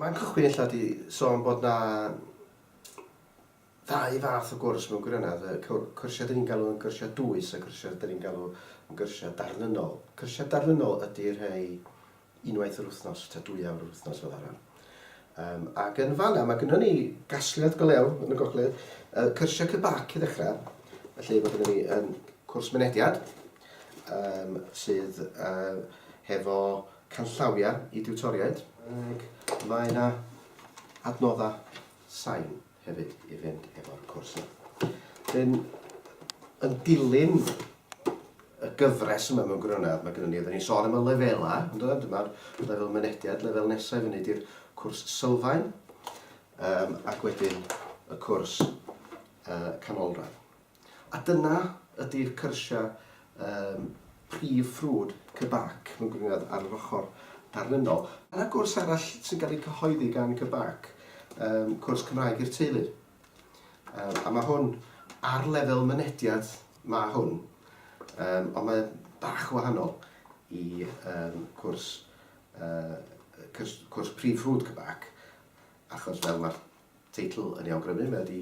Mae'n cychwyn ella di sôn bod na ddau fath o gwrs mewn gwirionedd, y cyrsiau dyn ni'n galw yn gyrsiau dwys a cyrsiau dyn ni'n galw yn gyrsiau darlunol. Cyrsiau darlunol ydy rhei unwaith yr wythnos, ta dwy awr yr wythnos fel arfer. Um, ac yn fanna, mae gennym ni gasgliad go lew yn y gogledd, uh, cyrsiau cybac i ddechrau, felly mae gennym ni um, cwrs mynediad, um, sydd uh, hefo canllawiau i diwtoriaid, ac mae yna adnoddau sain. hefyd i fynd efo'r cwrs yma. Wedyn, yn dilyn y gyfres yma mewn gwirionedd, mae gennym ni, oedden ni'n sôn am y lefelau, yn dod, dyma'r lefel mynediad, lefel nesaf i fyny di'r cwrs sylfaen, um, ac wedyn y cwrs uh, canolradd. A dyna ydy'r cyrsiau yym prif ffrwd Kebak mewn gwirionedd ar yr ochr darlunol. Dyna gwrs arall sy'n cael ei cyhoeddi gan Kebak, yym cwrs Cymraeg i'r teulu. Yym a mae hwn ar lefel mynediad mae hwn, yym ond mae bach yn wahanol i yym cwrs yy cwrs prif ffrwd Kebak achos fel mae'r Teitl yn ei awgrymu, mae wedi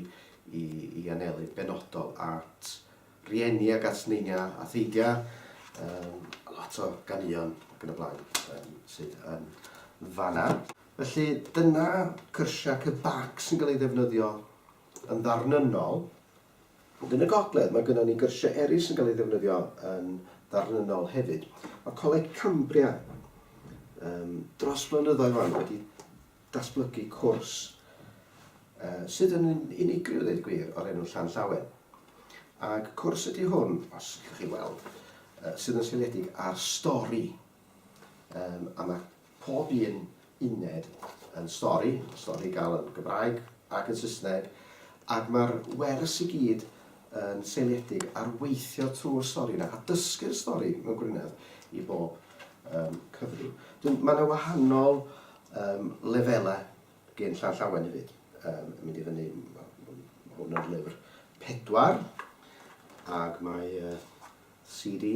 i anelu benodol at rieni ac at neiniau a theidiau, lot o ganeuon ac yn y blaen sydd yn fan'na. Felly, dyna cyrsiau cybac sy'n cael eu ddefnyddio yn ddarnynnol. Ond yn y gogledd, mae gynnon ni gyrsiau eraill sy'n cael eu ddefnyddio yn ddarnynnol hefyd. Mae Coleg Cambria dros flynyddoedd 'wan wedi datblygu cwrs sydd yn unigryw ddeud gwir o'r enw Llanllawen ac cwrs ydy hwn, os gallwch chi weld, sydd yn seiliedig ar stori um, a mae pob un uned yn stori, stori gael yn Gymraeg ac yn Saesneg, ac mae'r wers i gyd yn seiliedig ar weithio trwy'r stori yna a dysgu'r stori mewn gwirionedd i bob um, cyfrif. Mae yna wahanol Yym, lefelau gen Llan Llawen hefyd. Yym, yn mynd i fyny, ma' ma' hwn yn lyfr pedwar, ac mae yy CD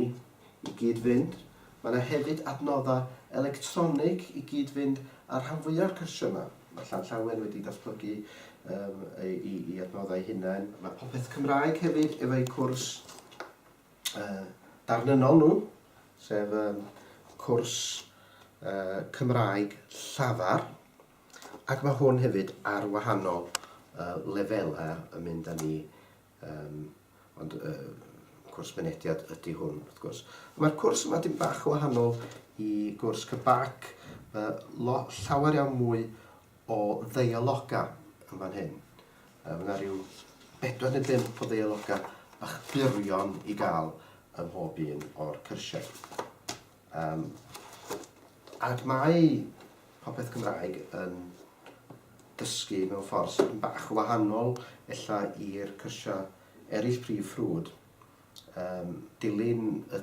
i gyd-fynd. Mae 'na hefyd adnoddau electronig i gyd-fynd â'r rhan fwya' o'r cyrsiau 'ma. Mae Llan Llawen wedi datblygu yym ei ei ei adnoddau ei hunain. Mae Popeth Cymraeg hefyd efo'u cwrs. darnynnol nhw, sef um, cwrs uh, Cymraeg llafar, ac mae hwn hefyd ar wahanol uh, lefelau yn mynd â ni, um, ond uh, cwrs mynediad ydy hwn, wrth gwrs. Mae'r cwrs yma dim bach o wahanol i gwrs Cybac, uh, llawer iawn mwy o ddeialoga yn fan hyn. Mae yna rhyw bedwar neu bump o ddeialogau bach byrion i gael ym mhob un o'r cyrsiau. Um, ac mae popeth Cymraeg yn dysgu mewn ffordd sydd yn bach o wahanol ella i'r cyrsiau eraill prif ffrwd. Um, dilyn y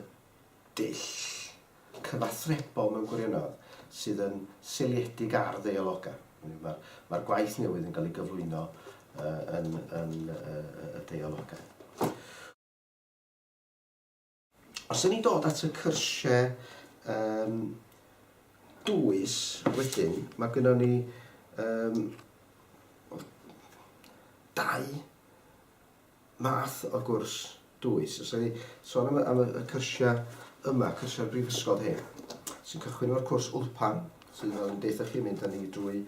dull cyfathrebol mewn gwirionedd sydd yn seiliedig ar ddeialogau. Mae'r ma gwaith newydd yn cael ei gyflwyno uh, yn, yn uh, y deialogau. Os yna ni dod at y cyrsiau um, dwys wedyn, mae gyda ni um, dau math o gwrs dwys. Os o'n i sôn am y am y y cyrsia yma, cyrsiau'r brifysgol hyn, sy'n cychwyn efo'r cwrs Wlpan, sydd fel yn deutha chi mynd â ni drwy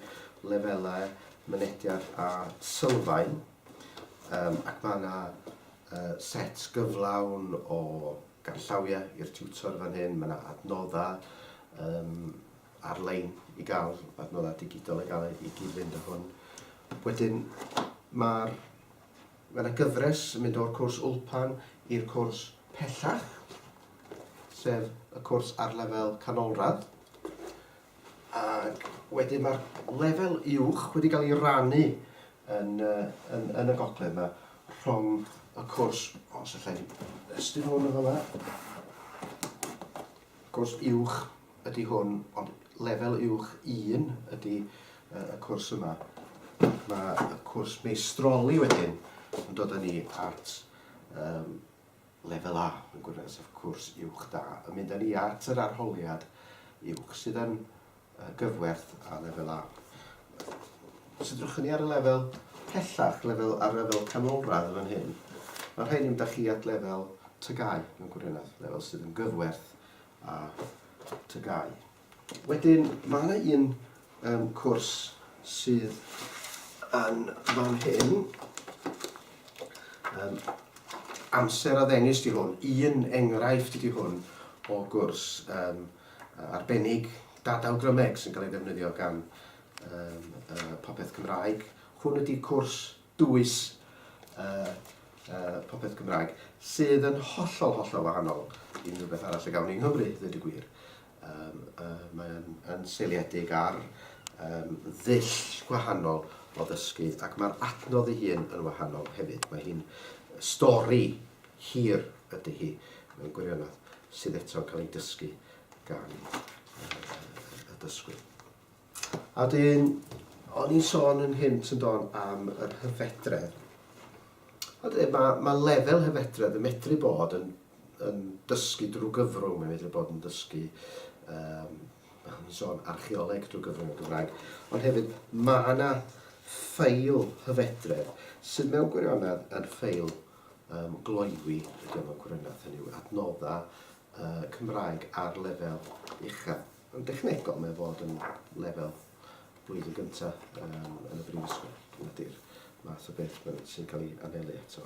lefelau mynediad a sylfaen, um, ac mae yna uh, set gyflawn o ganllawiau i'r tiwtor fan hyn, mae yna adnoddau um, ar-lein i gael, adnoddau digidol i gael i gyd-fynd â hwn. Wedyn, mae'r Mae 'na gyfres yn mynd o'r cwrs Wlpan i'r cwrs pellach, sef y cwrs ar lefel canolradd. Ac wedyn mae'r lefel uwch wedi cael ei rannu yn, yn, yn y gogledd yma rhwng y cwrs, os allai estyn hwn yn fama, cwrs uwch ydy hwn, ond lefel uwch un ydy y cwrs yma. Mae y cwrs meistroli wedyn yn dod â ni at um, lefel A, yn gwirionedd, sef cwrs uwch da, yn mynd â ni at yr arholiad uwch sydd yn gyfwerth a lefel A. Os ydych ni ar y lefel pellach, lefel, ar lefel canolradd yn fan hyn, mae rhaid ni'n mynd â chi at lefel tygau, yn gwirionedd, lefel sydd yn gyfwerth a TGAU. Wedyn mae 'na un yym cwrs sydd yn fan hyn, yym amser a ddengys ydi hwn, un enghraifft ydi hwn o gwrs yym arbennig data awgrymeg sy'n cael ei ddefnyddio gan yym yy Popeth Cymraeg. Hwn ydi cwrs dwys popeth Cymraeg, sydd yn hollol, hollol wahanol i unrhyw beth arall y gawn ni yng Nghymru, ddweud y gwir. Mae'n seiliedig ar ddull gwahanol o ddysgu ac mae'r adnodd ei hun yn wahanol hefyd. Mae hi'n stori hir ydy hi, mewn gwirionedd, sydd eto'n cael ei dysgu gan y dysgwyr. A 'dyn, o'n i'n sôn yn hynt yn do'n am yr hyfedredd. A 'dyn, mae, mae lefel hyfedredd yn medru bod yn, yn dysgu drwy gyfrwng, mae'n medru bod yn dysgu, um, o'n i'n sôn archeoleg drwy gyfrwng y Gymraeg, ond hefyd mae yna ffeil hyfedredd sydd mewn gwirionedd yn ffeil um, gloywi, ydy mewn gwirionedd, hynny yw adnoddau y Cymraeg ar lefel uchaf. Yn dechnegol, mae o fod yn lefel blwyddyn gyntaf um, yn y brifysgol. Dyna di'r math o beth sy'n cael ei anelu ato.